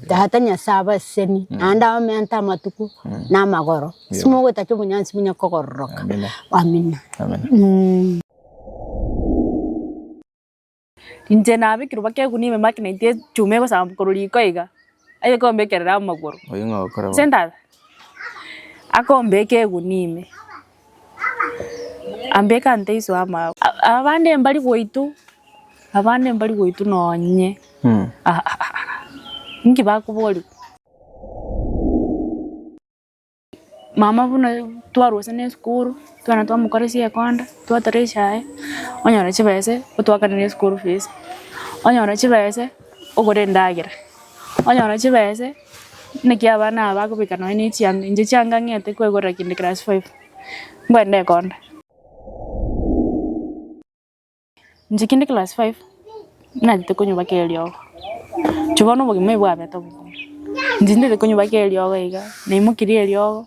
Tata Nyasae abaseseni, naende abamenyete amatuko na amagoro, ase mogwetaka obonyansi buna kogororoka. Amina. Amina. Inche nabekirwe baka egunia ime make na intwe echuma egosamba korwa riko iga, aye kombekerera amagoro. Ase endara, akombeka egunia ime. Ambeke aa ntaiso ama. Abande mbari goitwa abande mbari goitwa nonye aahahah inki bakoboria. Mama buna twarwa gose nesukuru twana twamokoresia ekonda twatera echae onyore chibesa otwakanere eschool fees onyore chibesa ogore endagera onyore chibesa. Naki abana aba bakobeka nonya ne chianga, inche chianga ng'ete kwegorera kende class five, ngwende ekonda. Inche kende class five, natete konyobaka eriogo, inche bono obogima obo bwabete obobe, inche ntete konyobaka eriogo iga, naimokirie eriogo.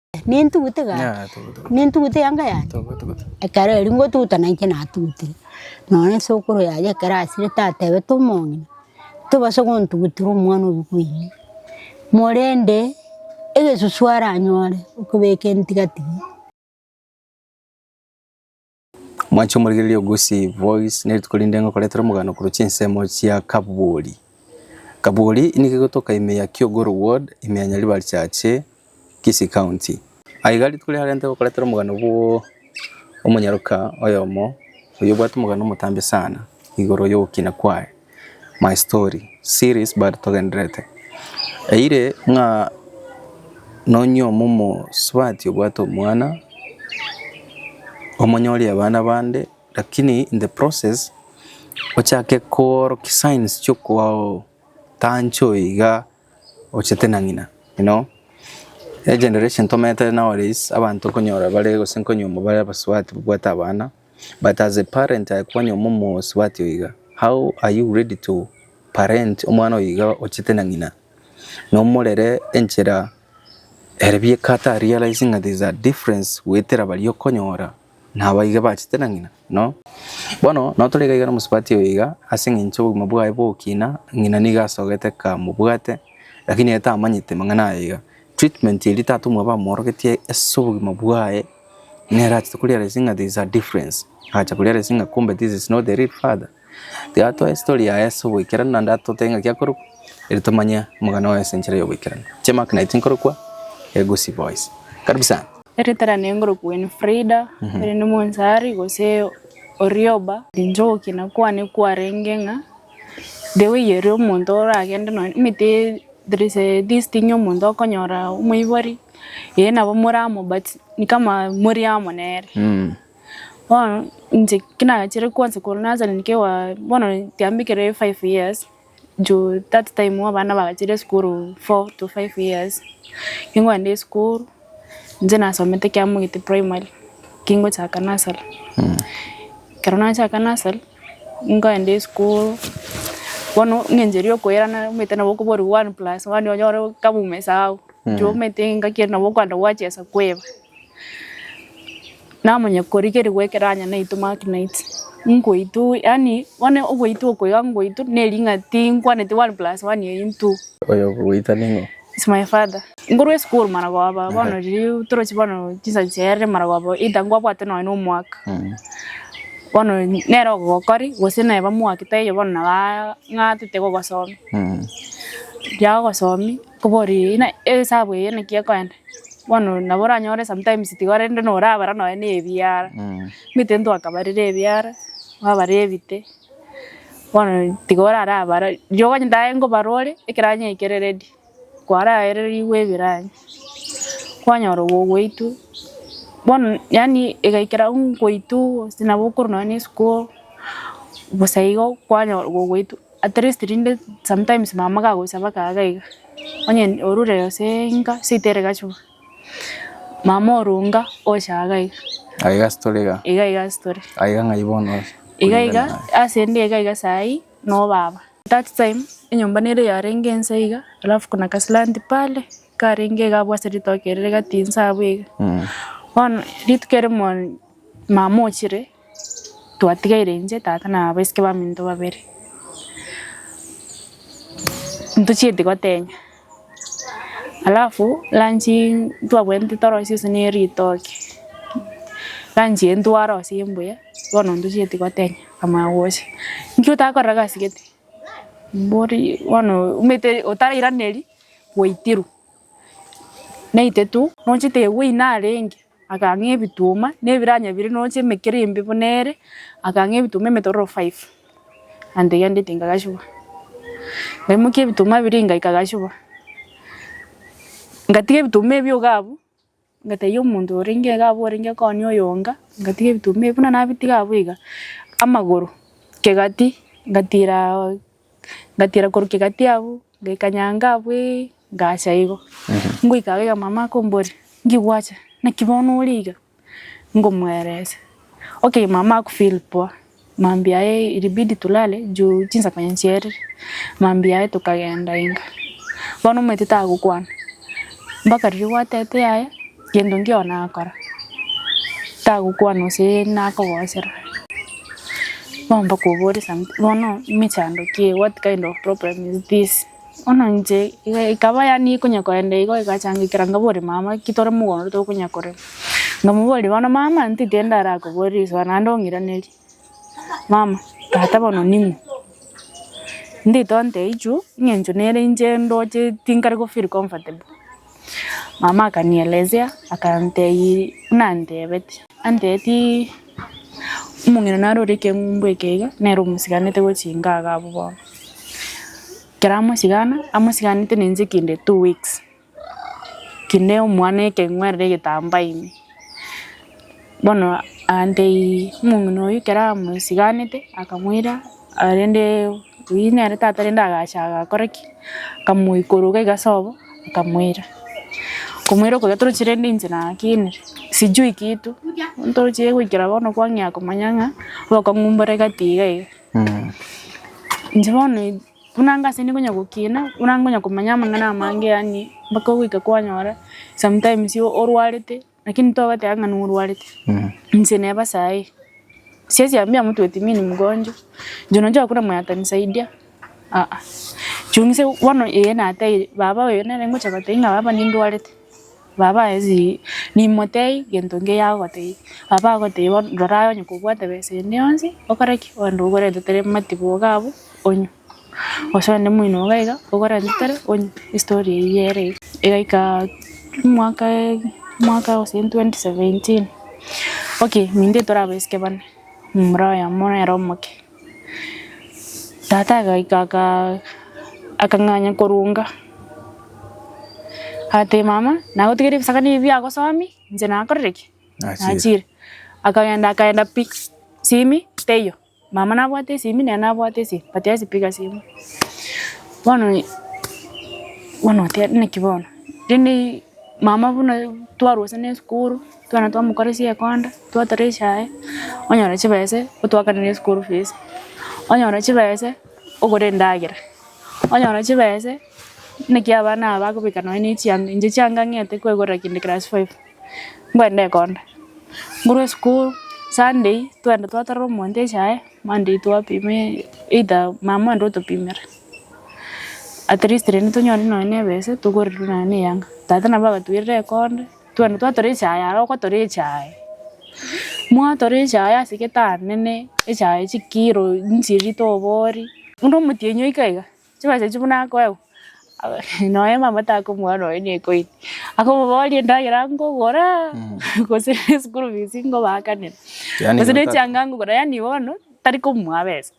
Nintugute iga Ng'a togotwa. nintugute yanga yane Togotwa gotwa. ekero erio ngotuguta nainche natugutire nonye ase okoro yaye ekero asire tatebete omong'ina tobasa gontugutera omwana oyio koyia morende egesusu aranyore okobeka entiga tiga. Mwanche omorigereria o Gusii Voice nerituko rinde ngokoretera omogano korwa chinsemo chia Kabwori. Kabwori nigo egotoka ime ya Kiogoro ward ime ya Nyaribari chache Kisii county. Aye iga rituko riarenge ngokoretera omogano bwo omonyaroka oyomo oyobwate omogano omotambe sana igoro yogokina kwaye. My story series but togendererete. Eire ng'a nonyio momosubati obwate omwana, omonyorie abana bande lakini in the process ochake koorokia signs chi'okotanchwa iga ochete na ng'ina you know. Generation tomerete nowadays abanto okonyora bare gose nkonyuomwa bare abasubati babwate abana. But as a parent aye kwanywa momosubati oiga, how are you ready to parent omwana oiga ochete na ng'ina, nomorere enchera ere bieka ata realizing that there is a difference goetera baria okonyora na abaiga bachete na ng'ina? No. Bono nao tore iga iga nomosubati oiga ase eng'encho obogima bwaye bogokina, ng'ina nigo asogete kamobwate, lakini ere tamanyete mang'ana aya iga. Treatment eria tata omwabo amworogetie ase obogima bwaye, nere achete koriara ase ng'a there is a difference, agacha koriara ase ng'a kumbe this is not the real father. Tiga atoe story yaye ase oboikeranu naende atotebie ng'a ki akorokwa, eri tomanye omogana oye ase enchera y'oboikeranu. Chimaki naye tinkorokwa, e Gusii Boys. Karibu sana. Eritera naye nkorokwa Winfrida, ere nimoansaari gose Orioba. Inche ogokina kwane kwarenge ng'a The way ere omonto oragende nonya omanyete there is a this thing omonto okonyora omoibori ee nabo more amo but ni kama mori amo nere. Bono inche ki nagachire kwanza korwa nursery nkegoa bono tiambe ekero ere five years juu that time abana bagachire esukuru four to five years. Ningokenda esukuru. Inche nasomete Kiamogete primary kingochaka nursery. Ekero nachaka nursery, nkaenda esukuru, bono eng'encho eria okoirana omanyete nabo okoboria one plus one onyore kaba omosao. Inche omanyete engaki ere nabo okogenda gwachesa kweba. Namanya korigeri gwekeranya naitwe Mark Knight ngoitwe yaani bono ogoitwe oko iga ngoitwe nering'a tinkwaneti one plus one eye intwo. Oyo okogoita ning'o? It's my father. Nkorwa esukuru maragoba bono riria toroche bono chinsa chiarire maragoba either nkwabwate nonye na omwaka bono nere ogokori gose naye bamwake taiyo bono nabo ang'atete gogosomia. Riria agosomi Kobori ng'a egesabu eye naki ekoenda, bono nabo oranyore sometimes tiga rende norabara nonya na ebiara, omanyete ntwakabarire ebiara, twabara ebite, bono tiga orara abare, rirorio okonyora aye nkobara ore, ekeranyi eke kere ready, kwaraererigwe ebiranyi, kwanyora ogoitwe, bono yaani egaikera ngoitwe gose nabo okorwa nonya na esiko, bosa igo kwanyora ogoitwe. At least rinde sometimes mama kagocha mpaka iga iga, onye orure gose inka seita ere gachwo, mama orunga ocha iga iga. Iga iga ase tore iga. Iga iga ase tore. Iga ng'ai bono ase. Iga iga ase ende iga iga saa hii no baba. That time enyomba nere yarenge ensa iga alafu kuna ka slant pale karenge iga abwo ase ritoke ere rigatinsa abwo iga. Bono rituko erimo mama ochire. Twatigaire inche, tata, na abaiseke baminto babere, ntochieti gotenya, alafu lunch ntwabwenerete toro seso ne ritoke, lunch eye ntwara gose embuya, bono ntochieti gotenya, akamanya gocha, inki otakorera egasi gete? Mbori bono omanyete otarairaneria, gwaitirwe, naitwe tu, nochete we narenge. Akang'a ebituma na ebiranya bire noche emekero embe buna ere, akang'a ebituma emetororo five, ante gendeti nkagasibwa. Ngaimokia ebituma biria engaika nkagasibwa. Ngatiga ebituma ebio iga abwo, ngatebia omonto orenge iga abwo orenge konia oyonga, ngatiga ebituma ebio. Buna nabitiga abwo iga, amagoro, kegati, ngatiraa. Ngatiira korwa kegati abwo, ngaika nyango abwo ee, ngacha igo. Ngoika iga mama akomboria, Nki gwacha? Naki bono ore iga? Ngomweresa, Okay, mama akufeel poa. Mambia aye ilibidi tulale juu chinsa konya nchierire. Mambia aye tokagenda inga. Bono omanyete tagokwana, mpaka riria gwatete yaya. Gento nkio nakora, tagokwana gose nakogochera, bono bakobore something bono emechando ki eye what kind of problem is this? Bono inche iga ekaba yaani ekonya kogenda igo egachangekera nkabora mama ki tore mogondo tokonya korema, nkamoboria bono mama ntitindi ndarakoborie risoa naende ong'iranerie. mama tata bono ning'o? Ndito nteiyo juu eng'encho nere inche ndoche tinkare go feel comfortable. Mama akanielezea akantebia buna antebeti, antebeti omong'ina naro ore ekeng'umbu eke iga, nere omosiganete gochinga iga abwo bono. Ekero amosigana, amosiganete na inche kende two weeks. Kinde omwana ekeng'werire egetambaa ime, bono aante omong'ina oyio ekero amosiganete akamoira rende oyio nere tata rende agacha agakora ki? Akamoikora iga ase obo akamoira. Komoira koria toroche rende inche nakinire, sijui kitu, ntoroche goikera bono kwang'ea komanya ng'a obokong'u mbore gati iga iga. Inche bono. Buna anga ase nigo nyagokina, buna anga onya komanya amang'ana amange yaani mpaka ogoika kwanyora sometimes orwarete lakini togoteba ng'a norwarete. Inche neba saii, siesi ambia mtu eti mi ni mgonjwa, juu najua hakuna mwenye atanisaidia aa, juu inche bono ee nateire baba oyo nere ngocha gotebia ng'a baba nindwarete. Baba ase nimotei gento nge yagotei. Baba agotei bono rora aye onye kobwate besa ende yonsi okore ki? Ogende ogorente tere matiboga abwo onywe. Gose onde moino iga iga ogorente tere onywe. Estory eyio ere iga. Egaika mwaka mwaka gose twenty seventeen, okay, mintee torabasike bane, momura oyomo nere omoke. Tata agaika aka- akang'anya korunga, agatebia mama, nagotigeire ebisaga nibi biagosomi, inche nakorire ki? Nachiire. Nachiire. Akagenda akaenda pi, simi teiyo. Mama nabwate esimi, nere nabwate esimi, but ase piga simu. Bono i- bono oteba naki bono? Rende mama buna twarosana esukuru. Twana twamokoresia ekonda, twatera echae, onyore chibesa otwakanere eschool fees, onyore chibesa ogore endagera, onyore chibesa naki abana aba bagobeka nonye ne chianga, inche chianga ng'ete kwegorera kende class five, ngwende ekonda, ngorwe school, sunday twende twaterera omonto echae, monday twapima either mama ande otopimera, atleast rende tonyore nonye ne ebesa togoreria nonye ne eyanga. Tata nabo agatwerire ekonda. Twende twatoreche aye are okotoreche aye. Mwatoreche aye ase egetanda nene echaye chikiro nchiri tobori. Buna omotienyi oika iga chibesa echio buna akoegwa noe mama takomwaa noe nekoire akomoboria endagera nkogora gose eschool fees nkobakanera gose ne chianga nkogora yaani bono tari komwaa besa.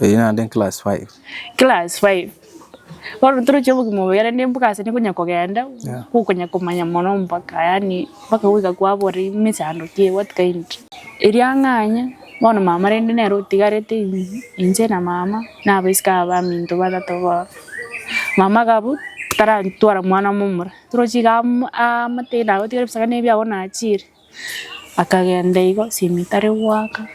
Erio naende nclass five. Class five, bono toroche obogima obo yare ne mbuga ase nekonya kogenda, Yeah. gokonya komanya mono mpaka yaani mpaka goika kwabora ime chando ki what kind. Erio ang'anya, bono mama rende nere otigarete ime, inche na mama na abaiseke aba baminto batato bono. Mama agabw tarantwara mwana momura, toroche iga am- aamate naye otigare ebisaga na ebiago nachiire. Akagenda igo esimi etari goaka,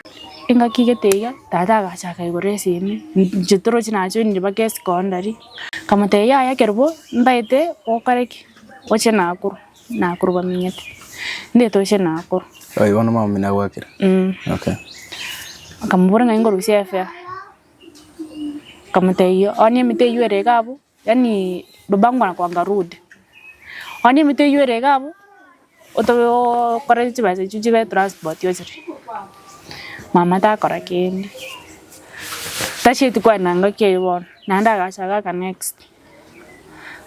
engaki egete iga, tata agacha akaigora esimi, inche toroche nachoinire mpaka esecondary, nkamotebia yaya ekero bo ntaete gokora ki? Gocha nakuru, nakuru bamenyete, ntaete gocha nakuru. Oyo bono omwami nigo agwakire? Eeh. Okay. Nkamobora ng'ai ngorusie efea, nkamotebia onye emete eywo ere iga abwo. Yaani babangu wanakuanga rude. Onye emito eyio ere iga abwo, otobe okore chibesa echio chibe transport ochire. Mama takora kende. Tacheti kwenda ngaki eyio bono, naende agacha gaka next.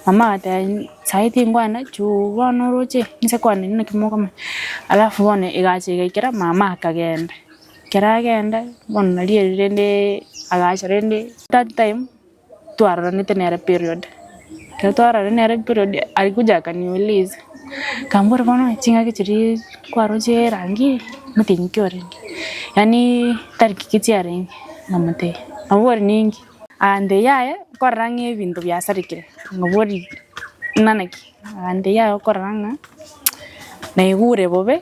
Mama agateba saii tinkwenda juu bono oroche nse kwenda inwe naki mokomanya. Alafu bono egacha igaikera mama akagenda. Ekero agenda, bono nari ere rende agacha rende that time. twaroranete nere period, ekero twarorire nere period aria gocha akaniuliza, akambora bono chingaki chiria kwaroche erangi motienyi ki orenge, yaani tari ki chiarenge, namotebia, nabori ninki, agantebia yaya okorora ng'a ebinto biasarekire, nabori ng'ana ki, agantebia yaya okorora ng'a naigure bobe.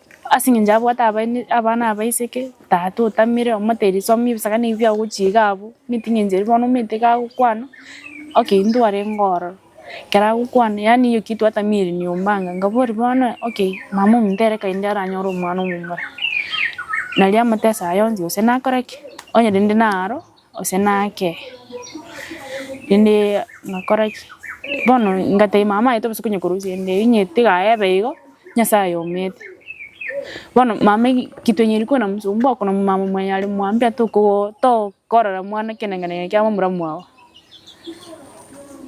Ase engencho abwate abaini, abana abaiseke, tata otamire, omoteiri soma ebisaga na ebiya ogochia iga abwo, omanyete engencho eria bono omanyete iga agokwana, okay intwe arenge ororo, ekero agokwana yaani eyio kitu hata mieri nyuma anga, ngaboria bono okay mama ominto ere kainde aranyore omwana omomura, nari amotese aye onsi gose nakore ki, onye rende naro. Gose nake, rende ngakora ki? Bono ngatebia mama aye tobe konya korusia rende inye tiga aye ebe igo, Nyasaye ayomete. Bono mama eki kitwenyeri kwena mosubwa okona mama mwenye are mwambia tokogo tokorora mwana ekenenegena gene kiabo omuramu obo.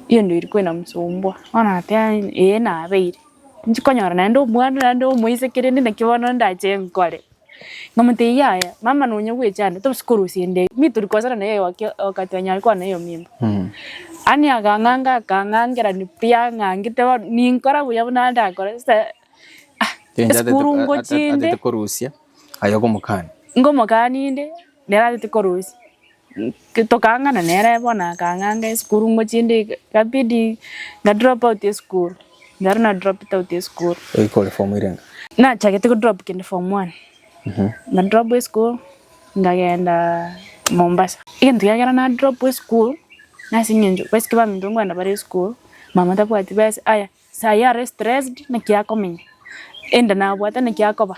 Hiyo ndio ilikuwa inamsumbua. Bono nateba inye ee nabeire. Nchi konyora naende omwana naende omoiseke rende naki bono ndache nkore. Nkamotebia, Yaya, mama nonya gwecha ande, toba sikorusia ende eye. Nitori kosana na yeye waki- wakati anyare kwana eyo mimba. Ani akang'anga akang'angera ni pi ang'angete bono, ninkora buya buna ndakora. Sasa, ah, Kencho atete- esukuru a- a- ngochia inde, atete korusia aye okomokania. ngomokania inde, nere atete korusia. tokangana nere bono akang'anga esukuru ngochie ndie ikabidi nga drop out esukuru ekero na droped out esukuru. Oika ore form ere ng'a? Nachagete ko drop kende form one na drop esukuru nkagenda Mombasa. Egento kia kere na drop esukuru nase eng'encho boys ki baminto nkoenda bare esukuru mama tabwati besa aya saii are stressed naki akomenya enda nabwate naki akoba.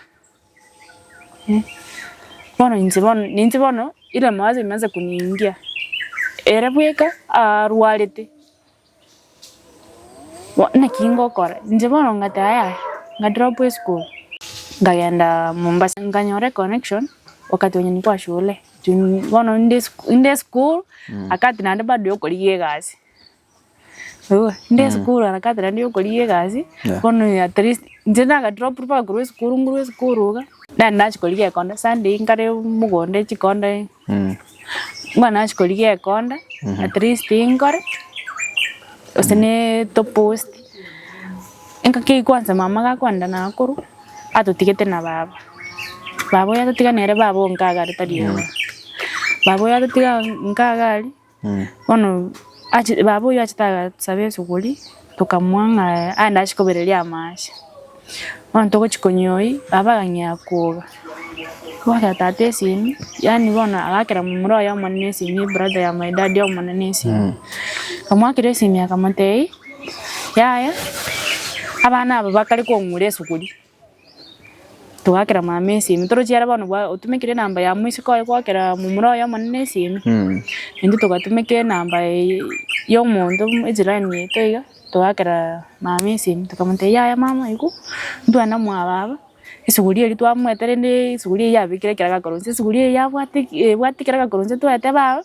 Bono inche bono ninche bono ira emabaso emansa koniingia, ere bweka arwarete, bono naki ngokora, inche bono ng'ataa yaya, ng'a drop esukuru, nkagenda Mombasa, nkanyora econnection wakati wenye nilikuwa shule, juu bono inde inde esukuru wakati naende bado yokorigia egasi. Eeh, inde esukuru harakati naende ya okorigia egasi, Yeah. bono at least inche naga drop mpaka korwa esukuru nguru esukuru iga, naende nachia korigia ekonda, Sunday nkare mogondo chikonda iga, Mm. bono nachia korigia ekonda at least nkore, gose ne topost, nka ki kwanza mama gakogenda naye korwa, atotigete na baba, baba oyo atotiga nere baba oo nkaga are tari oyomo, baba oyo atotiga nkaga aria. Bono achi- baba oyio achete agasaba esuguri, tokamua ng'a aye nachi kobereria amache. Bono togochi konywa oyio, baba agang'ea koga, kogotera tata esimi, yaani bono agakera momura oye omonene esimi, ebrother ya my dad omonene esimi. Akamwakera esimi akamotebia, yaya, abana aba bakare kong'ura esuguri. Togakera mama esimi torochie are bono bwa otumekire enamba ya moiseke oye goakera momura oye omonene esimi, intwe togatumeka enamba eye ya omonto buna ejirani yaito iga, togakeraa mama esimi tokamotebia yaya mama aye ko ntwana mwababa, esuguria eria twamoete rende esuguria eyio yabekire ekero agakorwa inse esuguria eyio yabwate ki- ebwate ekero agakorwa inse toete baba.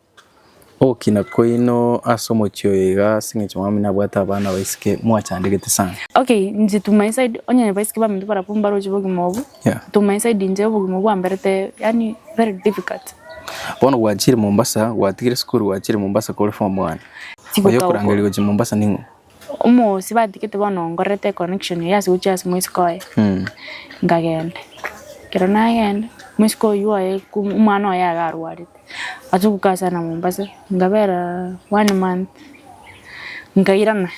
Ogokina kwaino ase omochie oyo iga ase engencho Mwami nabwate abana baisike mwachandegete sana. Okay inche to my side onye abaiseke baminto barabwo mbaroche obogima obwo Yeah. to my side inche obogima obwo bwamberete yaani very difficult. Bono gwanchire Mombasa gwatigire esukuru gwanchire Mombasa kore form one. Tigotaokwa. Oyokorangeria gochia Mombasa ning'o? Omoosi batigete bono nkorerete econnection eye ase gochia ase omosike oye nkagenda. Ekero nagenda omosike oyio oye omwana oye iga arwarete achia gokasana Mombasa nkabera one month nkairana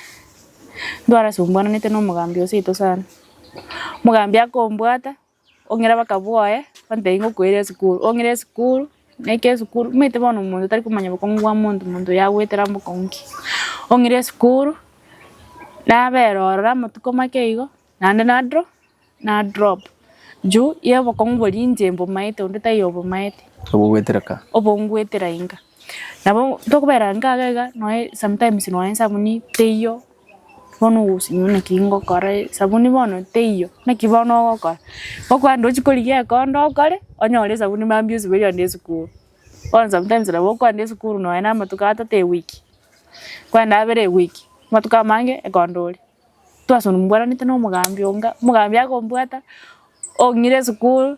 ndwara asombuanete na omogambi oseito sana. Omogambi akombwata. Ong'ira abaka bwoye, bantebie ng'a okoeire esukuru, ong'ira esukuru, naikire esukuru, omanyete bono omonto tari komanya obokong'u bwa monto, monto oyo agoetera mbokong'u ki. Ong'ira esukuru, nabera ororo amatuko make igo, naende na dro na drop, juu ya obokong'u boria inche mbomaete onde taiyo obomaete. Obogoetera ka. Obongoetera inga. Nabo tokobera inga iga iga, nonya sometimes nonya esabuni teiyo. Bono ogosenywa naki ngokora, esabuni bono teiyo, naki bono ogokora? Ngokwenda ochie korigia ekondo okore, onyore esabuni mambia osibe oyende esukuru. Bono sometimes nabo okwenda esukuru nonya na amatuko atato ewiki, okwenda abere ewiki, amatuko amange ekondo oria, twasomuboranete na omogambi onga, omogambi akombwata, ong'ira esukuru.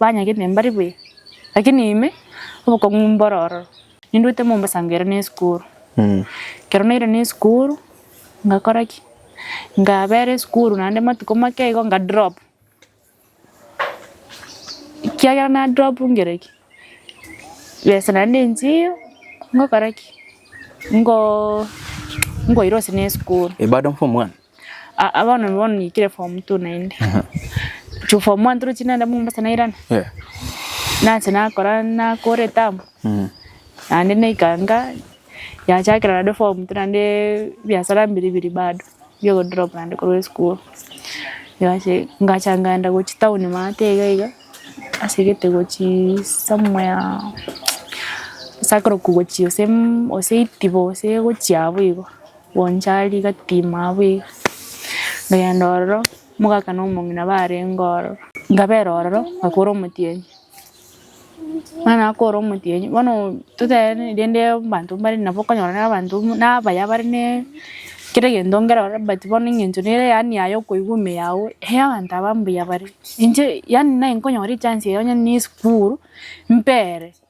Banyagete mbare buya, lakini ime obokong'u mboro ororo. Ninduete Mombasa nkero ne esukuru. Ekero naire ne esukuru, ngakora ki? Nkabera esukuru naende amatuko make igo nka drop. Ekiagera na drop nkire ki? Besa naende nchiyo nkokora ki? Nko nkoirosia ne esukuru. Aa bono bono naikire form two naende juu form one torochie nende Mombasa nairana nache nakora nakora etabu naende naikanga yachakera naende form two naende ebiasara biri biri bado bia ogodrop naende korwa esukuru yase ngacha ngenda gochia town maate iga iga ase egete gochia somewhere ase akorokwa gochia gose itibo gose gochia abwo igo. Gocha rigatima abwo iga, nkagenda ororo, omogaka na omong'ina barenge ororo. Nkabera ororo, nkakora omotienyi. Ekero nakora omotienyi, bono totenene rende abanto mbare nabo okonyora na abanto na abaya bare ne kera egento nkere ororo but bono eng'encho nere yaani aye okoigwa ime yago, hei abanto aba mbuya bare. Inche yaani naye nkonyora echance eye onye ne esukuru, mpere.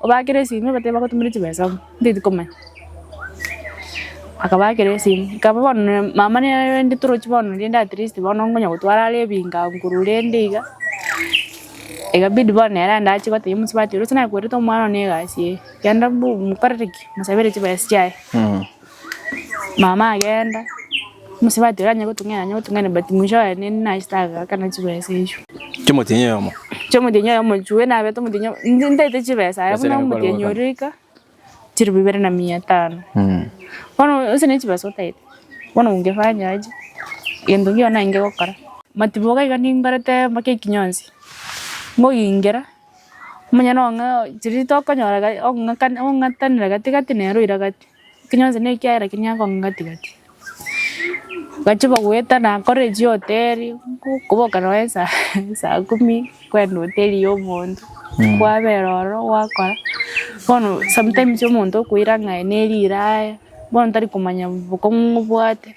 Obakera esimi obatebe bagotumere chibesa abwo, nteti komanya. Akabakera esimi, ekaba bono na mama narende toroche bono rende at least bono ngonya gotwara are ebingo ago korwa orende iga, egabidi bono ere ande ache gotebia omosubati ore, ase nakwerete omwana one egasi eye, genda mbu mokorere ki? Mosabere chibesa chiaye. Mama agenda, mosubati oria aye gotung'ena aye gotung'ena but mwisho aye ninde naye tagakana chibesa echio. Chomotionya oyomo. Chomotionya oyomo chwe nabete omotionya inche ntaete chibesa aye buna omotionya oria oika chilifu ibere na mia tano. Bono onsi ne chibesa otaete bono ongefanya aje gento nkiya bono naye ngokora. Matiboka iga ningorete mpaka ekinyonsi ngogingera omonyene ong'e chiria tokonyora ong'atanera gati gati nere oira gati. Ekinywe onsi nekiayera kiria akonga gati-gati. Bachia bagoeta nakora echihoteli, nkoboka nonya esaa esaa kumi, kwenda hoteli ya omonto, kwabera ororo gwakora. Bono sometimes omonto okoira ng'a aye neriraaya, bono tari komanya bokong'u ng'obwate.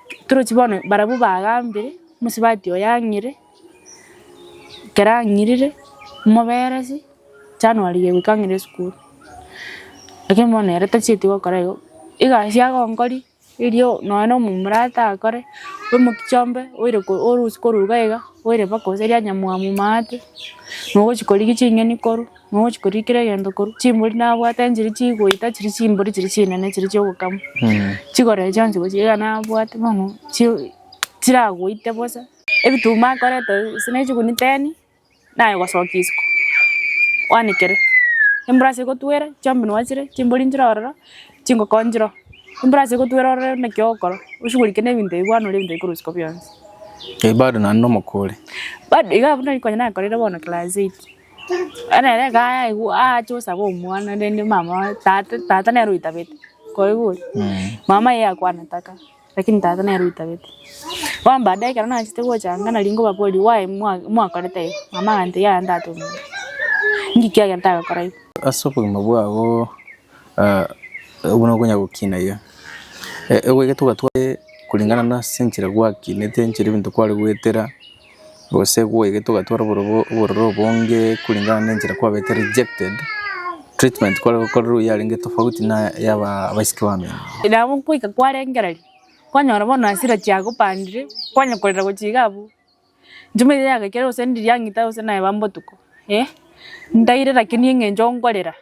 Toroche bono barabwo bagambire, omosubati oye ang'ire, ekero ang'irire, moberesi January eye goika ang'ire esukuru. Lakini bono ere tachieti gokora igo, egasi agonkoria erio nonya na omomura atakore, bwe mokichombe oire ko orusie koruga iga, oire mpaka gose rianyamu amomate, nogochi korigia ching'eni korwa. Mogochia koria kera egento korwa, chimbori nabwate nchiria chigoita chiria chimbori chiria chinene chiria chia ogokama. Chikorera chionsi gochia iga nabwate bono chi- chiragoite bosa. Ebituma akorete gose ne chiguni ten, naye gosokia isiko, kwanekere. Embura ase egotwera, chiombino chire, chimbori nchire ororo, chingoko nchire oo. Embura ase egotwera ororo naki ogokora, oshugulike ne ebinto ebi bono ore ebinto bikorusia ko bionsi. Bado naende omokori. Bado iga abwo nari konya nakorire bono class eight. Bono ere iga ayaigwa aache gosaba omwana rende mama oye tata tata nere oitabete, koigwa oria? Mama iga yakwana taka, lakini tata nere oitabete. Bono baadae ekero nachete gocha iga nari ngobaboria why mwa mwakorete igo, mama agantebia yaya ndatong'aine, inki kiagera ntagokora igo. Ase obogima bwabo buna okonya gokina iga, egwegete ogatware kulingana nase enchera gwakinete enchera ebinto kware goetera. Gose gwaigete ogatwara obororo obonge kulingana na enchera kwabete rejected, treatment kware gokorerwa eye yarenge tofauti na ya abaiseke bamino. Nabo ngoika kwarengereria, kwanyora bono hasira chiagopandire, kwanya korera gochia iga abwo. Enchuma eria yagaikire gose ndiri ang'ita gose naeba mbotuko, eh, ntaire lakini eng'encho nkorera,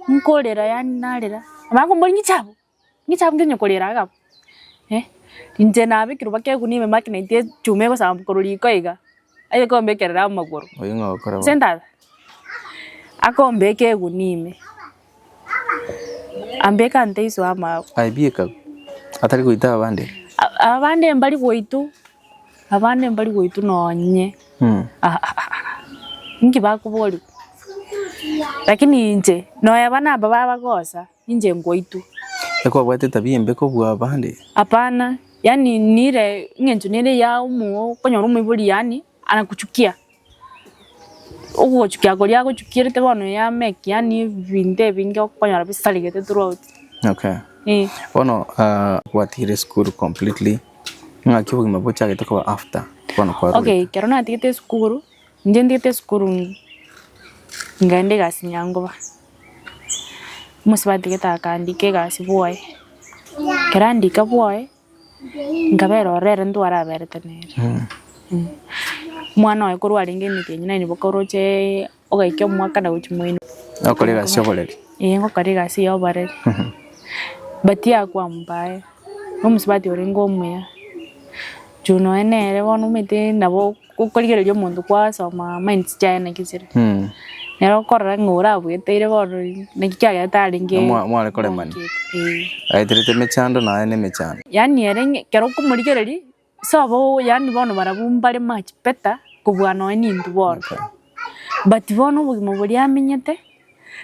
nkorera yaani narera, abange mbori ng'icha abwo. Inche abwo nkenywe korera iga abwo eh, inche nabekerwa baka egunia ime magnet echuma egosamba korwa riko iga, aye kombekerera amagoro, Oyio ng'a okora gose entara, akombeka egunia ime, ambeke ante iswe amabu, Aye bieka abwo, atari goita abande. A- abande mbari goitwa, abande mbari goitwa nonye, Mh, ah, ah, ah, ah, inki bakoboriwa? Lakini inche, nonya bana aba babagosa. Inche nkwaitwe. Ekero obwate etabia embe kobua abande. Hapana, yaani nire eng'encho nere ya omo okonyora omoibori yaani anakuchukia. Ogochukia koria agochukierete bono ya make yaani ebinto ebinge okonyora bisarigete throughout. Okay. Eh. Bono ah, gwatigire esukuru completely, ng'aki obogima bochagete koba after bono kwarurete? Okay, ekero natigete esukuru, Ngendiete esukuru nkaenda egasi nyangoba, omosubati gete akandika egasi bwoye, ekero andika bwoye nkabera ororo ere ntwaraberete nere. Omwana oye korwa arenge emeri enyia naende boka oroche ogaikia omwaka na gochia moino. Ogokora egasi ya oboreri. Ee ngokora egasi ya oboreri. But yakwampa aye, omosubati orenge omuya, juu nonya nere bono omanyete nabo Gokorigereria omonto kwasoma minds chiaye naki chire. Nere okorora ng'a ore abweteire bono naki kiagerete arenge. Mwa- mware koremania. Eh. Aeterete emechando naye ne emechando. Yaani ere ng'e- ekero okomorigereria, sobo yaani bono barabwo mbare much better kobua nonye nintwe bono. But bono obogima boria amenyete,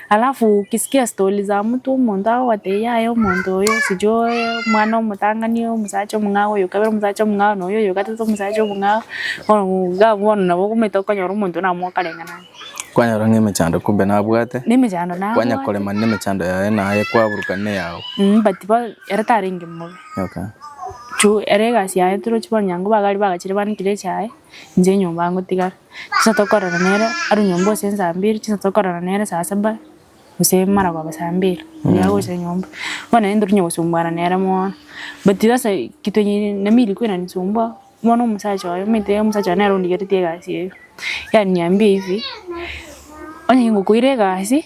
alafu ukisikia story za mtu omonto agogotebi yaya omonto oyo sijui oye omwana omotang'ani omosacha omong'ao oyo kabere omosacha omong'ao na oyo oyo gatete omosacha omong'ao, bono iga bono nabo ogomaete okonyora omonto oyio namokarenge naye. Kwanyora ng'a emechando kumbe nabwate, Na emechando nabwate. kwanyakore mani na emechando yaye naye kwaburukana na eyao. Mm but bono ere tarenge mobe. Okay. Juu ere egasi yaye torochi bono nyango bagari bagachire banekire echae, inche enyomba ngotigara. Chinsa tokorana nere arwe nyomba gose saa mbili chinsa tokorana nere saa saba gose mara koba saa mbili mbuya agocha nyomba bono naende ntoria kosumbuana nere mono but sasa kitu yenye nami ilikuwa inanisumbua bono omosacha oye omanyete omosacha oye nere ondigeretie egasi eye yaniambia hivi onye ngokoira egasi.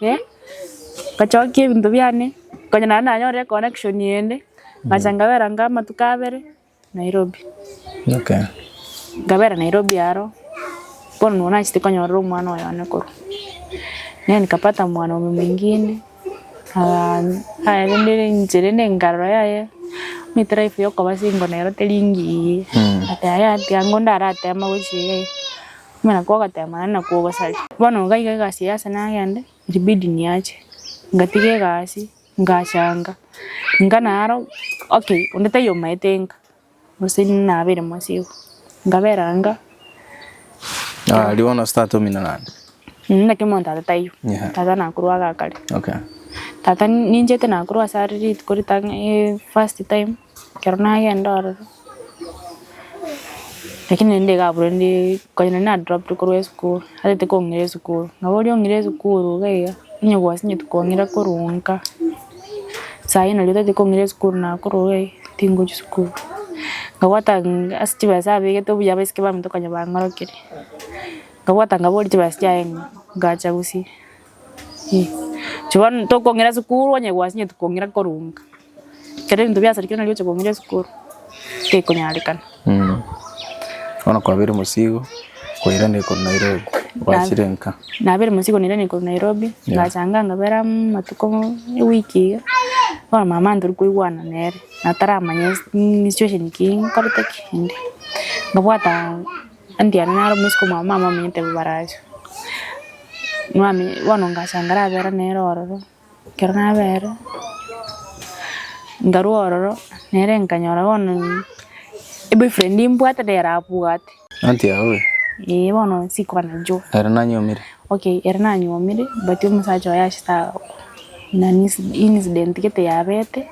Eh, nkachokia ebinto biane, konya naende nanyore econnection ende, ngacha nkabera nka amatuko abere Nairobi. Okay. Nkabera Nairobi aro, bono nabo nachete konyorera omwana oyo one korwa. Naye nikapata mwanaume mwingine, ah, aye rende inchera ende nkarora yaye, omanyete life yokoba single nero teri engiya, ati aye ati ango ndare atema gochia iga iga. Buna kwogoteemana na kwogosaria. Bono gaiga egasi eyase nagende, ilibidi niache. Ngatiga egasi, ngachanga, ngana aro, okay, onde taiyo omaete nka, gose nabeire mwase igo. Nkabera nka. Ah, rigo nonsi tata omino naende. Mh, naki omonto tata taiyo. Yeah. Tata nakorwa agakare. Okay. Tata ninchete nakorwa ase are rituko rita ng'a eh, first time. Ekero nagenda ororo, lakini naende iga abwo naende konya naende na dropped korwa esukuru, atagete kong'ira esukuru, nabo oria ong'ire esukuru iga iga, onye gwasinyeti kong'ira korwa nka, sayi nari otagete kong'ira esukuru nakorwa iga iga, tingochia sukuru, nkabwata ase chibesa abegete obuya abaiseke baminto konya bang'orokerie, nkabwata nkaboria chibesa chiaye ng'a ngacha gose. Bono tokong'ira esukuru onye gwasinye tokong'ira korunga. Ekero ebinto biasarire kere nari oche kong'ira esukuru tekonyarekana. Bono kwabire mosigo kwairana ekoro Nairobi gwachire nka. Nabire mosigo nairana ekoro Nairobi ngachanga nkabera amatuko ewiki iga. Bono mama ntori koigwana nere nataramanya situation ki nkorete ki ende. Nkabwata Andy aria naro omosike omwabo mama ominyote bobaracho. Mwamenya bono ngachanga rabera nere ororo, ekero nabere, nkarwa ororo nere nkanyora bono eboyfriend mbwate nigo arabwate. Andy aowe. Eeh bono sikoba nainchuo. Ere nanyuomire. Okay ere nanyuomire but omosacha oye achete nani incident gete yabete,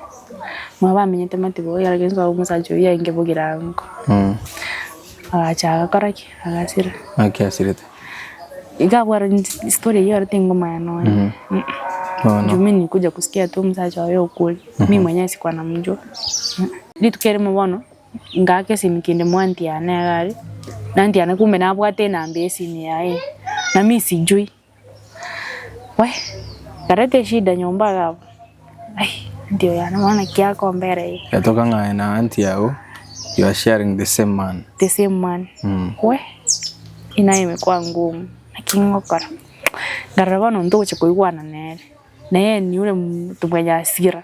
mwabo amenyete motiboyore, omosacha oyio aye nkebogire ango. Agacha agakora ki? Agasira. Naki asirete? Iga abwate story eyio ere tingomanya nonya. Mm. Mm. Bono. Juu mi nikuja kusikia tu omusacha oyo okuri. Mi mwenyewe sikuwa namjua. Mm. Rituko erimo bono ngaaka esimi kende moanti yane iga are. Na anti yane kumbe nabwate enamba ya esimi yaye. Na mi sijui. Wee nkareta eshida nyomba iga abwo ai anti oyo yane bono naki akombera eye. Yatoka ng'aye na anti yao you are sharing the same man. The same man. Mm. Wee eye naye emekwango omu naki ngokora. Nkarora bono ntogochia koigwana nere. Naye eniure mtu mwenye hasira.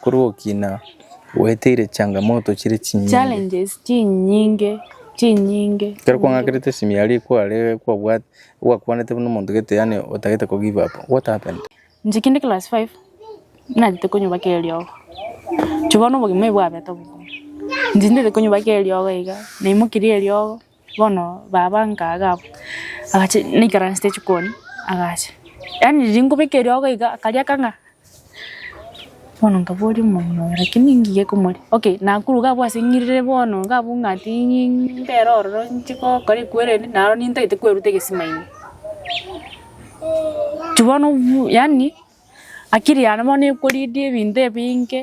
Korwa okina gweteire changamoto chire chinyinge. Challenges chinyinge chinyinge. Ekero kwang'akerete esimi ya riko are kwabwate gwakwanete buna omonto gete yaani otagete ko give up what happened? Inche kinde class five nagete konyobaka eriogo. Inche bono obogima obo bwabete obokong'u. Inche ndete konyobaka eriogo iga, naimokirie eriogo. Bono baba nkaga abwo, agacha naikaransete jikoni, agacha, yaani riria nkobeka eriogo iga, akaria kang'aa, bono nkaboria omong'ina oye naki ningiya ekomoria, okay, nakuruga abwo ase ng'iriri bono iga abwo ng'a ting'ii mbere ororo nche gokora ekwerende, naro nintagete kweruta egesima ime. Juu bono buu yaani akiri yane bono ekoridia ebinto ebinge,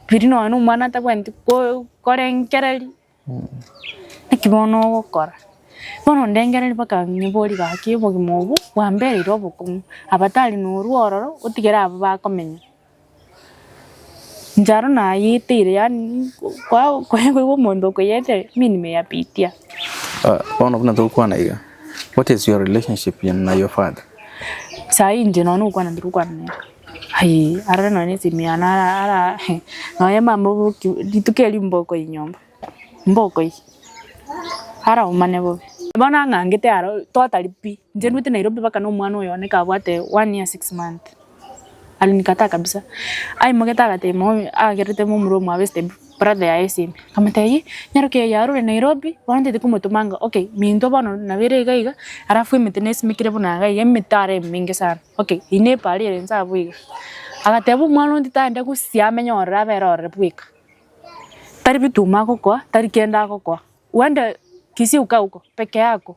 biri nonya na omwana atabwati ko- korengereria. Naki bono ogokora? Bono ndengereria mpaka nyiborie gaki obogima obo bwambereire obokong'u, aba tari norwo ororo otigere abwo bakomenya. Ncharo nayeteire yaani kwa- koigwa omonto okoyeteire mimi nimeyapitia. Bono buna togokwana iga, what is your relationship na your father? Sayi inche nonya nokwana ntorokwana nere. Aye arare nonya nesemiano ara nonya mama oboki rituko erio mbokoi nyomba mbokoi ara omane bobe. Bono ang'angete aro totari pi inche ndwete Nairobi baka na omwana oyo one kabwate one year six months alinikataa kabisa aimogetaa agatebia mono agerete momura omwabo esitebu. Brother yaye esime. Nkamotebia ii nyaroki eye arure Nairobi bono ntaete komotoma anga okay minto bono nabo ere iga iga alafu emete nesimekire buna iga iga emete are emenge sana okay eye ne pari ere inse abwo iga. Agateba omwana onde tande gosia amenye ororo abere ororo bweka. Tari bituma agokoa tari kende agokoa. Wende Kisii uka huko peke yako.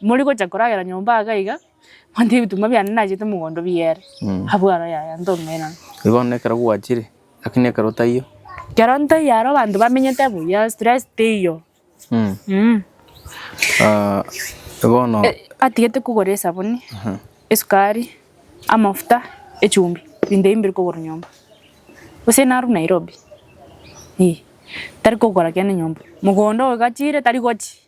Mori gocha koragera nyomba aa gaiga, monto ebitunwa biane nachete mogondo bigere, abwo aro yaya ntong'ainana. Igo bono ekero gwachire, lakini ekero otaiyo. Ekero ntaiyo aro abanto bamenyete buya, stress teiyo. Mh. Ah, bono. Atigete kogora esabuni, esukari, amafuta, echumbi, ebinto ebio mbiri kogora nyomba. Gose narwo Nairobi, eh, tari kogora kende nyomba. Mogondo oyo gachire tari gochia.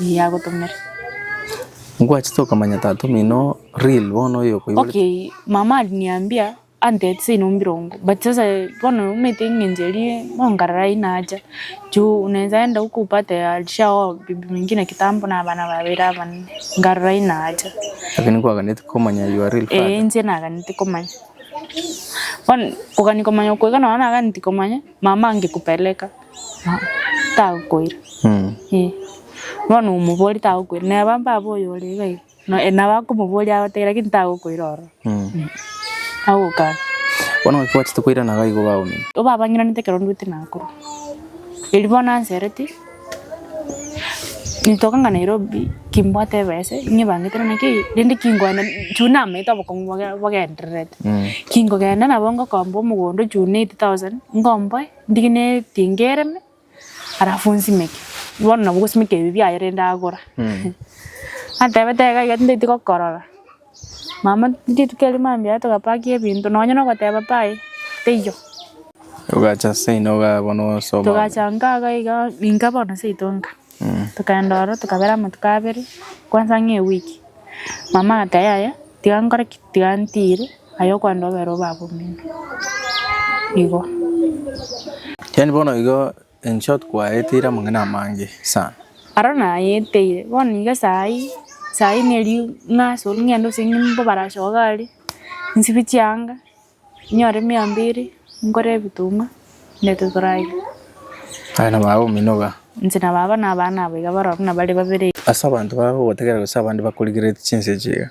Eye agotomere. Ngwachete okamanya tata omino real bono oyo okoiborete. Okay mama aliniambia antete seino mbirongo but sasa bono omanyete eng'encho eria bono nkarara aye nacha juu naensa enda huko upate alishaoa bibi mwingine kitambo na abana babere abanene nkarara aye nacha. Lakini kwaganeti komanya your real father. Ee inche naganeti komanya. Bono kogania komanya okoiga nonya naganeti komanya. mama angekupeleka tagokoira eh. Bono omoboria tagokoira neba mbabe oyo ore iga iga no nabo akomoboria agotebi lakini tagokoira ororo eh agokana. Bono naki gwachete koirana iga igo bago omonto? Obabang'inanete ekero ndwete nakorwa. Erio bono ansereti. Nintokanga Nairobi kimbwate ebesa ng'ebangete naki eye rende kingogenda chun namaete obokong'u boge bogendererete. Kingogenda nabo ngokomba omogondo chun eight thousand ngomboe ndige na etinga ereme alafu nsimeke. Bono nabo ogosimeka ebi biaye rende agora. Atebete iga iga tindaeti gokorora. Mama, rituko erio mambia aye togapakia ebinto, nonya nogoteba pi aye, teiyo. Togacha seino igaa bono osoma. Togacha nka iga iga inka bono seito nka. Tokaenda oro tokabera amatuko abere, kwanza ng'a ewiki. Mama agati yaya, tiga nkore ki? Tiga ntire, aye okwenda obere obe abwo omino. Igo. Yaani bono igo. In short kwayeteire amang'ana amange sana. Aro nayeteire bono iga saii saii neri ng'aso ng'ende gose nimbo barache iga are nsibie chianga nyore miambia ere nkore ebituma ndete torarie. Aye na baba omino iga. Inche na baba na abana aba iga baroro nabare babere iga. Ase abanto bagogotegerera gose abande bakorigereretie chinsa echi iga.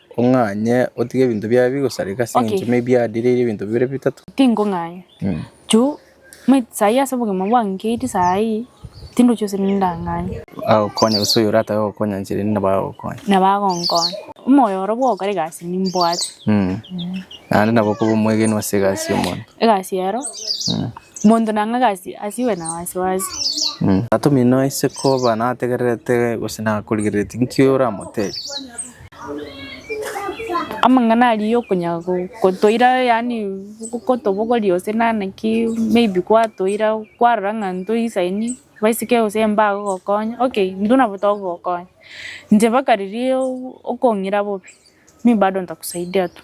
Ong'anye otige ebinto biaye bigosareka ase engencho Okay. maybe adireirie ebinto bibere bitato. Tingong'anya. Mm. Ju, me- sai ase obogima bwange nkeiti sai, tindochi gose rinde ndang'anye. Agokonya gose oyo oratabe gokonya nche rende nabo agokonya. Nabo agonkonya. Omoyo oro bwogokora egasi nimbwate. Mm. Naende nabo okoba omwegenwa ase egasi y'omonto. Egasi ero, Mm. monto nang'a egasi asiwe na wasiwasi. Mm. Tata omino aise koba nategererete gose nakorigereretie, nki oramotebi? Amang'ana aria y'okonyara gotoira yaani gotobogoria gose nana ki maybe kwatoira kwarora ng'a ntoisaini baiseke gose mbagogokonya okay intwe nabo togogokonya inche mpaka riria okong'ira bobe mimi bado ntakusaidia tu.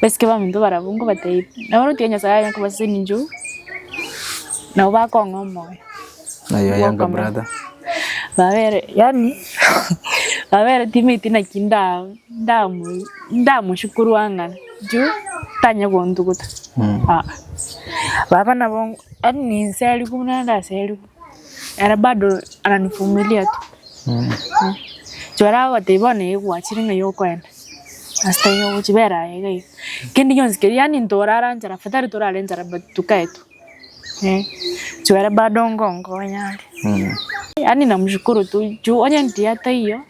Basike baminto barabwo nkobateebie, nabo orotio Nyasae aye akobasesenia inchuo, nabo bakong'a omoyo. Aye oyoka brother. Babere, yani babere timate naki nda ndamu ndamushukuru ang'ana juu tanya gontuguta. Ah. Baba nabo yani ninserigwe buna ndaseriwe. ere bado ananivumilia tu. Inche baria bagotebia bono ee gwachire ng'a iga okoenda, ase taiyo ogochia bera aye iga iga. Kende gionsi keria yaani ntorara nchara pi tari torare nchara but tukae tu eh. Inche baria bado ngonkonya are. Yaani namoshukuru tu juu onye ntiga taiyo.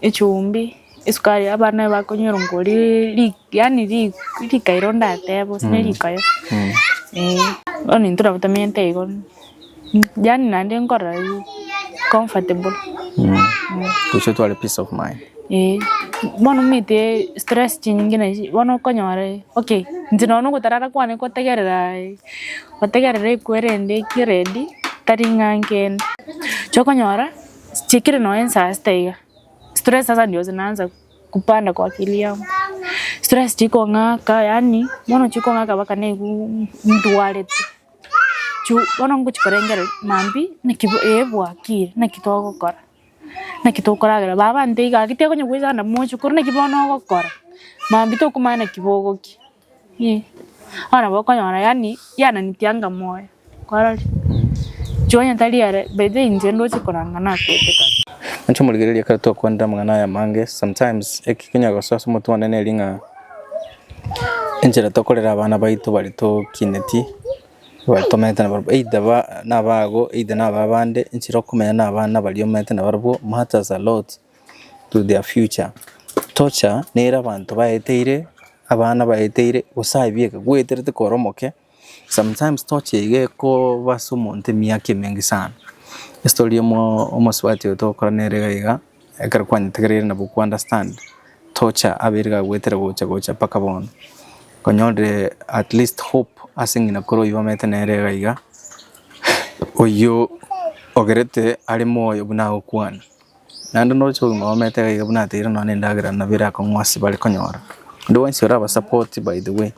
echumbi, esukari abana bakonywera ngo ri yaani rikairo ndatebe gose ne rikayo eh, bono intwe nabo tamenyete igo yaani naende nkorora comfortable Gochia otware peace of mind. eh. Bono omanyete stress chinyinge na ichi bono okonyora okay inche nonya na ogotarara kwane kotegerera gotegerera ekwo erende ekiya ready tari ng'a nkende, inche okonyora chikire no ensa ase taiga stress sasa ndio zinaanza kupanda kwa akili yangu stress chikong'aka yaani bono chikong'aka mpaka naigwa ndwarete juu bono ngochia korengera maambia naki ee bwakire naki togokora naki tokoragera baba ntaiga gaki tekonya goichana moche korende naki bono ogokora maambia tokomanya naki bogokia. Eeh, bono nabo okonyora yaani yananitie anga moyo, kwarorire? Inche onye tari ere, by the way inche ndoche koranga nakwete kare. Inche omorigereria ekero twakwanire amang'ana aya amange, sometimes eki kinya gosoa ase omotwe one neri ng'a enchera tokorera abana baito baria tokineti, baria tomeete nabarabwo, either ba nabago, either naba abande, enchera okomenya na abana baria omeete nabarabwo matters a lot. to their future. Torture nere abanto baeteire, abana baeteire gose aye bieka gweterete kore omoke. Sometimes torture iga ekoba ase omonto emiaka emenge sana. Estory ya omo- omosubati oyo togokora nere iga iga, ekero kwanyetegereire nabo ko understand torture abeire gagwetere gocha gocha mpaka bono. Konyorire at least hope ase ng'ina kore oyio bamete nere iga iga, oyio ogerete are moyo buna agokwana. Naende noroche kogima obaamate iga iga buna ateire nonya na endagera nabo erakong'u ase bare konyora. Onde bwensi oraba support by the way,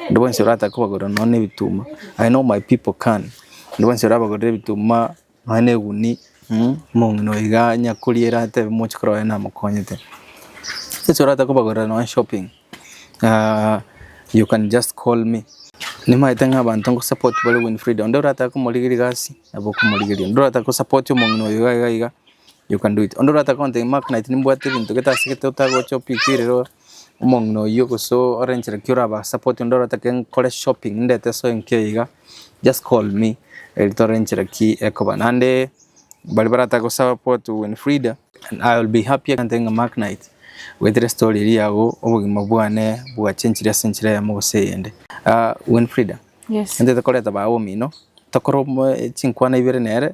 onde bwensi oratake kobagorera nonya na ebituma, I know my people can, onde bwensi orabagorere ebituma, nonya na egunia, omong'ina oyo iga onye akoriere atebe moche korwa aye namokonyete. Onde bwensi oratake kobagorera nonya shopping. Aah you can just call me. Nimaete ng'a abanto ngosupport bare Winfrida, onde oratake komorigeria egasi nabo okomorigeria, onde oratake gosupport omong'ina oyo iga iga iga you can do it. Onde oratake gontebia ng'a Mark nimbwate egento gete ase gete otagocha opikererwe omong'ina oyio gose ore enchera ki orabasupport, onde oratake nkore shopping ndete esoe enke iga Just call me Eri tore enchera ki ekoba naende baria barataka gosupport Winfrida. And I will be happy egento ng'a Mark Knight goetera story eria agwo obogima bwane bwachenchire ase enchera eyemo gose eyende. Winfrida, Yes. Intwe tokoreta baye omino, tokore chinkwana ibere nere,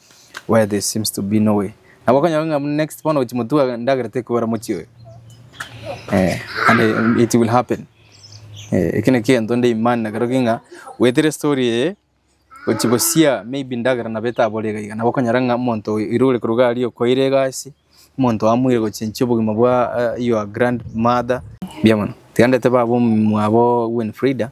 Where there seems to be no way. Nabo okonyora ng'a buna next bono gochi motuga endagera tekobera mochie oyo. Eh, and eh, it will happen. Eh, eke nekento nde imani nakero king'a goetera story eye gochi bosia maybe ndagera nabo etabore iga iga nabo okonyora ng'a omonto oyo ere ore koruga aria okoeire egasi omonto amoire gochenchia obogima bwa eh, your grandmother mbuya mono tiga ndete baba omwabo Winfrida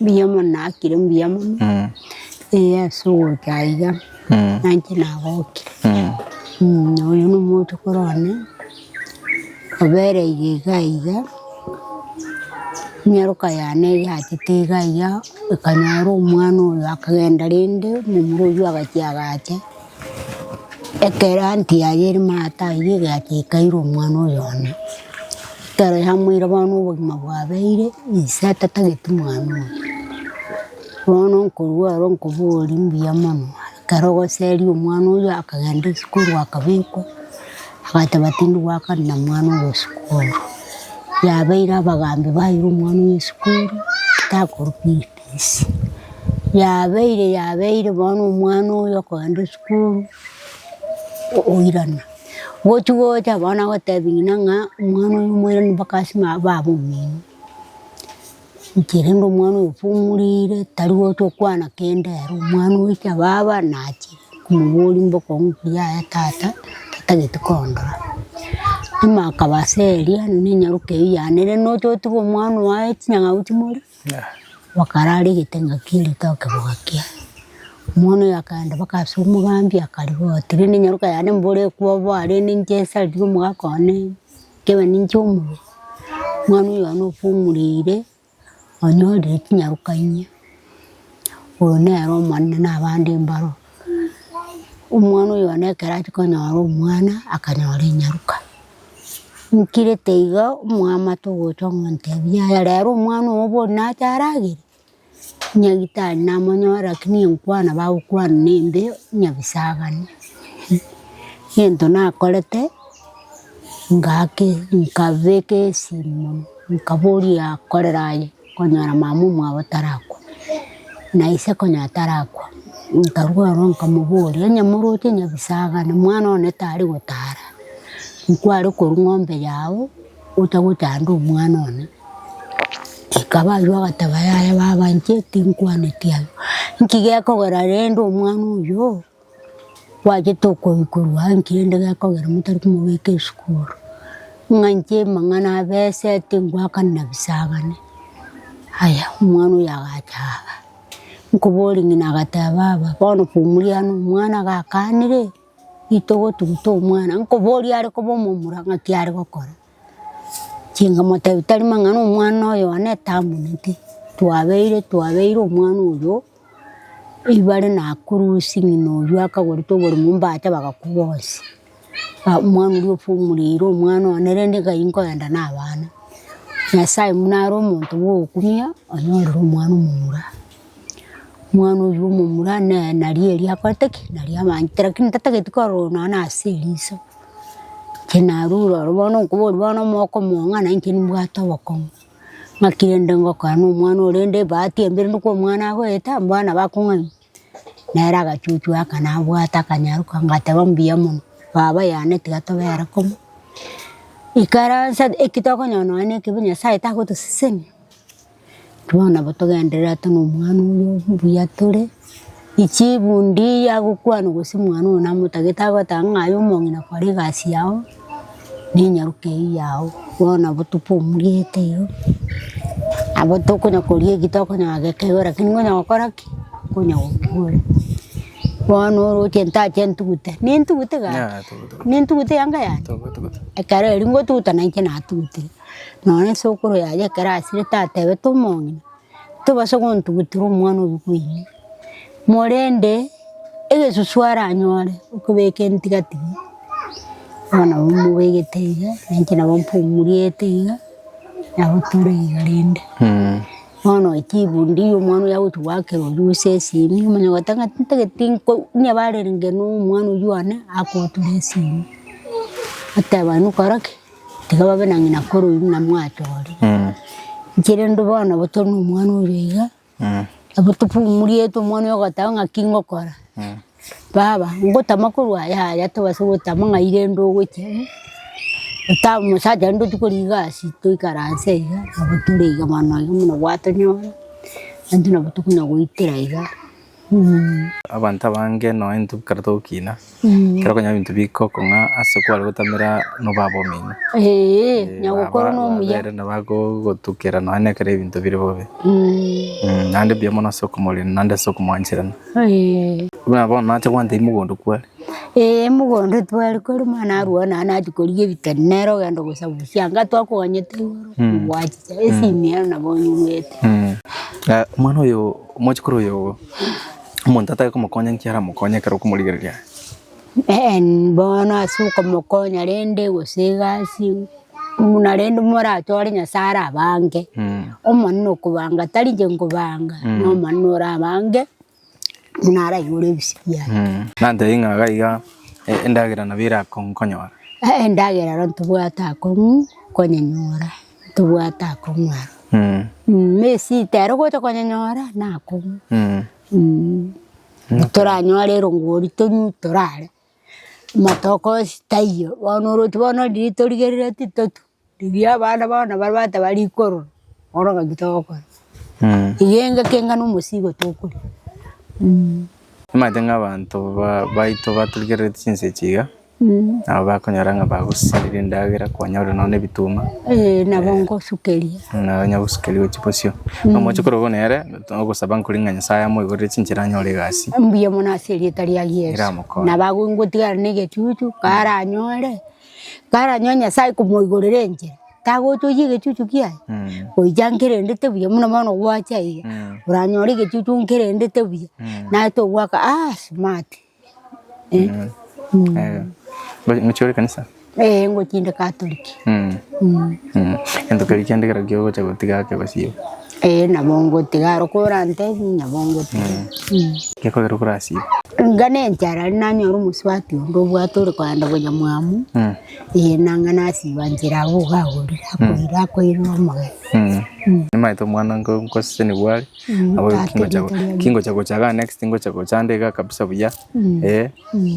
Mbuya mono nakire mbuya mono ee ase ogocha iga nainche nagokia na oyo na omochokoro one obereire iga iga nyaroka yane yachete iga iga ekanyora omwana oyo akagenda rende momura oyio agachia agacha. Ekero anti yaye ere maate aywo egatiikaire omwana oyo one, ekero yamoire bono obogima bwabeire, ise atatageti mwana oyo. Bono nkorwa aro nkoboria mbuya mono, ekero ogoseria omwana oyo akagenda esukuru akabekwa, agateba tindi goakana na mwana oyo sukuru. Yabeire abagambi baira omwana oyo sukuru, takorwa fifi. Yesu. Yabeire yabeire bono omwana oyo okoenda esukuru o- oirana. Gochi gocha bono agotebi ng'ina ng'a omwana oyo moirani mpaka ase ma baba omino. Inche rende omwana oyo ofumurire tari gocha okwana kende ere, omwana ocha baba nachire komoboria mboko ng'u mbuya yaya tata, tatagete kondora. Buna akaba ase eria, ninyaroke eyio yane rende oche otiga omwana oye chinyang'au chimori. Bakarara egete ngaki ritoke bwakia. Omwana oyo akaenda mpaka ase omogambi akarigia oti rende nyaroka yane mbore ekwe obwaa rende nchesariri omogaka one nkebe ninche omuya. Omwana oyo one ofumureire onyorire chinyaroka inya. Oyo nere omonene na abande mbaro. Omwana oyo one ekero achia konyora omwana akanyora enyaruka, nkirete igo omwamate ogocha ogontebia yaya rero omwana ogo bono nache aragere, nyagitari namonyore lakini enkwana bagokwana ne embe nyabisabani. Egento nakorete ngake nkabeka esimo nkaboria korera aye. Konyora mama omwabo tarakwa, na ise konyora tarakwa, nkarwa ororo nkamoboria, onye moroche nyabisangani mwana one tari gotara, nkware korwa ng'ombe yao ocha gochanda omwana one. Ekaba aywo agateba yaya baba inche tinkwaneti abwo, nki gekogera rende omwana oyoo? Gwachete okoikorwa aa nkende gekogera motari komobeka esukuru, ng'a inche amang'ana abesete ngoakanera bisagani. Aya omwana oyo agacha aa nkoboria ng'ina agateba baba bono komuria aa nomwana gakanire, itogo tugute omwana, nkoboria are koba omomura ng'aki are gokora. Chinkamotebia tari mang'ana omwana oyo one tamoneti, twabeire twabeire omwana oyo ribare nakurusie ng'ina oyio akagorete oboremo mbacha bagakwa bonsi. Omwana oria ofumorire omwana one rende nkai nkoenda na abana. Nyasaye buna are omonto bwa okumia onyorere omwana omomura. Omwana oywo omomura naye naria eria akorete ki naria amanyete lakini tatagete kororwa nonye na ase eriso. Inche narure ororo bono nkoborie bono omwaka omoa ng'ana inche nimbwate obokong'u. Ng'aki rende ngokora na omwana oyo rende ebahati embe rende kwa omwana agoeta mbwanu nabo akong'aini. Nere agachuchwa aka nabwate akanyaroka ngateba mbuya mono baba yane tiga tobera komo. Ikaransa eki tokonyora nonye na ekibe Nyasaye tagotosesenia. Bono nabo togenderere ata nomwana oyo mbuya tore, echibundi yagokwana gose mwana oyo namotagete agoteba ng'a aye omong'ina kora egasi yao, na enyaroka eyio yao. Bono nabo topomurete igo, nabo tokonya koria eki tokonya kogekeiborera lakini nkonya gokora ki? Nkonya gokiborera. Bono oroche ntache ntugute, nintugute gaki? Nintugute eanga yane? Ekero erio ngotuguta nainche natugutire. Nonya esokoro yaye ekero asirete atebete omong'ina, tobasa gontugutera omwana oyio koinyia, morende egesusu aranyore okobeka entigatigi, bono nabo mbobegete iga, na inche nabo mpumuriete iga, nabo tore iga rende. Bono chifundi omwana oyio agochia goakerwa oyio ase esimi, omanye gose ng'a ntagete nko onye barenge na omwana oyio one, akotura esimi, oteba nokora ki? Tiga babe na ng'ina korwa buna mwatoorire. Inche rende bono nabo tore na omwana oria iga, nabo tofumuriete omwana oyo ogoteba ng'aki ngokora. Baba, ngotama korwa aya yaya tobase gotama ng'ai rende ogocha iga, otamu omosacha rende otwo kore egasi toikaranse iga, nabo tore iga bono iga buna gwatonyora, ande nabo tokonya goitera iga. Abanto abange nonya intwe kare togokina, ekero okonyora ebinto bigokong'a ase kware gotamera nobaba omino. Baba babere nabo bagogotukera nonya na ekero ebinto bire bobe. Naende mbuya mono ase okomorina naende ase okomwancherana. Buna bono nache kwancha mogondo kware. Mogondo tware kware mani arwao naende nachi korigia ebitari nere ogenda ogosabusia anga twakoganyete igoro, ngwachiche, esimi ero nabo onyigwete. Omwana oyo. Omochikoro oyo omonto atari komokonya nki aramokonye ekero okomorigereria aye? Ee bono ase okomokonya rende gose egasi buna rende moratware Nyasaye arabange omonene okobanga tari inche nkobanga nomonene orabange buna araigure ebisio biane. Nantebie ng'a iga iga endagera nabo erakonkonyora? Ee endagera ero ntobwate akong'u konyenyora. tobwate akong'u aro na esita ero gocha konyanyora nakong'u toranyore erongori tong'u torare matoke onsi taiyo bono oroche bono riria torigereretie totu riria abana bono babwate bare rikorora bono ngaki togokora iga engaki enga na omosigo tokoria. Omanyete ng'a abanto baito batorigereretie chinsa echi iga. Nabo bakonyora ng'a bagosiserera endagera konya ore nonya nebituma. Ee nabo ngosukeria. Nabo onya gosukeria gochia bosio. Na omoche korwa bono nere ogosaba nkore ng'a Nyasaye amoiborere chinchera anyore egasi. Mbuya mono ase erieta ria Yeso. Eramokonye. Nabo agwo ngotigara na egechuchu karanyore, karanyore Nyasaye komoigorera enchera tagotogia egechuchu kiaye. Goika nkerendete buya buna bono gwacha iga oranyore egechuchu nkerendete buya. Naye togwaka aah smart. Ngochia ore kanisa? Ee ngochia inde Catholic. Gento keria kende ekero ogocha gotiga ake gosio? Ee nabo ngotiga aro ekero orantebie nabo ngotiga. Gekogera okore asio? Inga ne enchara aria nanyora omosubati onde obwate ore kogenda konya mwamu ee nanga nasiba nchera abwo iga agorire akoira omogeni. Nimaete omwana nkosesenigwe are? Abo Tata kingocha erieta riaye. kingocha gocha ga next ngocha gocha nde iga kabisa buya eh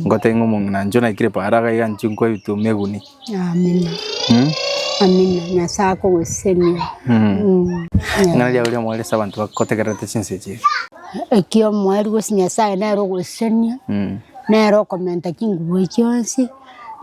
ngote ng'o mong'ina ncho naikire para iga iga nchi nkwa to meguni Amina. mm? Amina. Nyasaye akogosemia. mm. Mm. ng'ana ria oria omwere ase abanto bakotegererete chinsa echi Ekio omwari gose Nyasaye nere ogosemia. mm. Nere okomenta chingubo chionsi.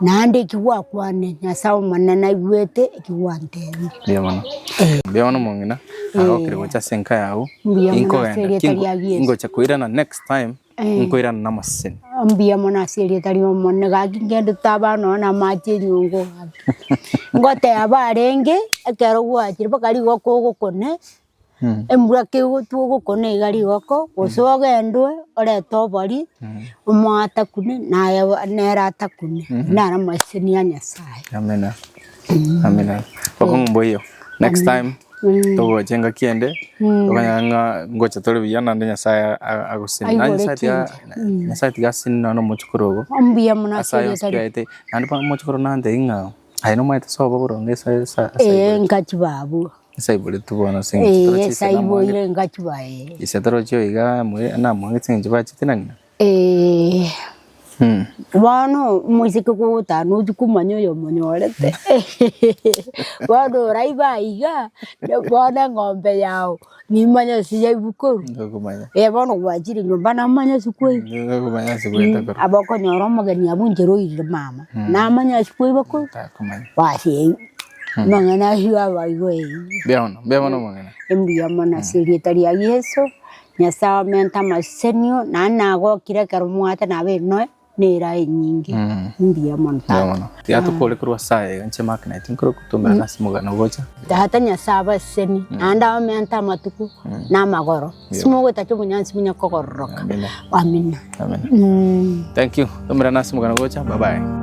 Naende eki gwakwanire, Nyasae Omonene naigwete eki gwantebire. Mbuya mono. Eh. Mbuya mono mong'ina. Narokire gocha ase enka yao. Mbuya mono Inkogenda. ase erieta Kingo- ria Yesu. Ingocha koirana next time. Eh. Nkoirana na amaseseni. mbuya mono ase erieta ria omonene gaki ngende taba nonya na amache enyongo gaki ngoteba arenge ekero gwachire mpaka rigoka ogokone embura kegotwa ogokona iga rigoko gose ogendwe orete obori omo atakune naye nere atakune naro amaisemi ya Nyasaye. Amina amina okong'u mboiyo next time togocha engaki ende okonyora ng'a ngocha tore buya naende Nyasaye a- agosime naye Aigure Nyasaye tiga chinsa. Nyasaye tiga asine nonya na omochokoro obo Mbuya muno ase ase ayio ayonsi piaete naende bono omochokoro nantebie ng'a Aye nomanyete sobo boronge ase ase ase Ee, aiboreti. nkachiba abwo. Ase aiboreti bono ase eng'encho Ee, torochia ase ase namoange- aiboire nkachiba ee. Ase torochia iga moe- namoange ase eng'encho bachete na ng'ina. Ee, Mm. bono omoiseke kogotana otwo komanya oyomonyorete. Bono oraiba aiga, bono eng'ombe yao Nimanye ase yaibukorwa. Ndokomanya. Eh bono gwachire nyomba namanya ase kwai. Ndokomanya ase kwete korwa. Aba okonyora omogeni abwo inche roirire mama. Namanya ase kwai bakorwa. Takomanya. Basi eyio. Amang'ana ayio aba igo eyio. Mbuya mono. Mbuya mono omong'ina. Mbuya mono ase erieta ria Yeso. Nyasae omente amasesenio. Naende nagokire ekero mwate nabe enoe. nera enyinge mbuya mono tata. Yatokore korwa ase aye enche magnet nkore gotomera ase omogano gocha. Tata Nyasae abaseseni naende abameante amatuko na amagoro ase mogwetaki obonyansi bunye kogororoka. Amina. Amina. Thank you. Tomerana ase omogano gocha. Bye bye.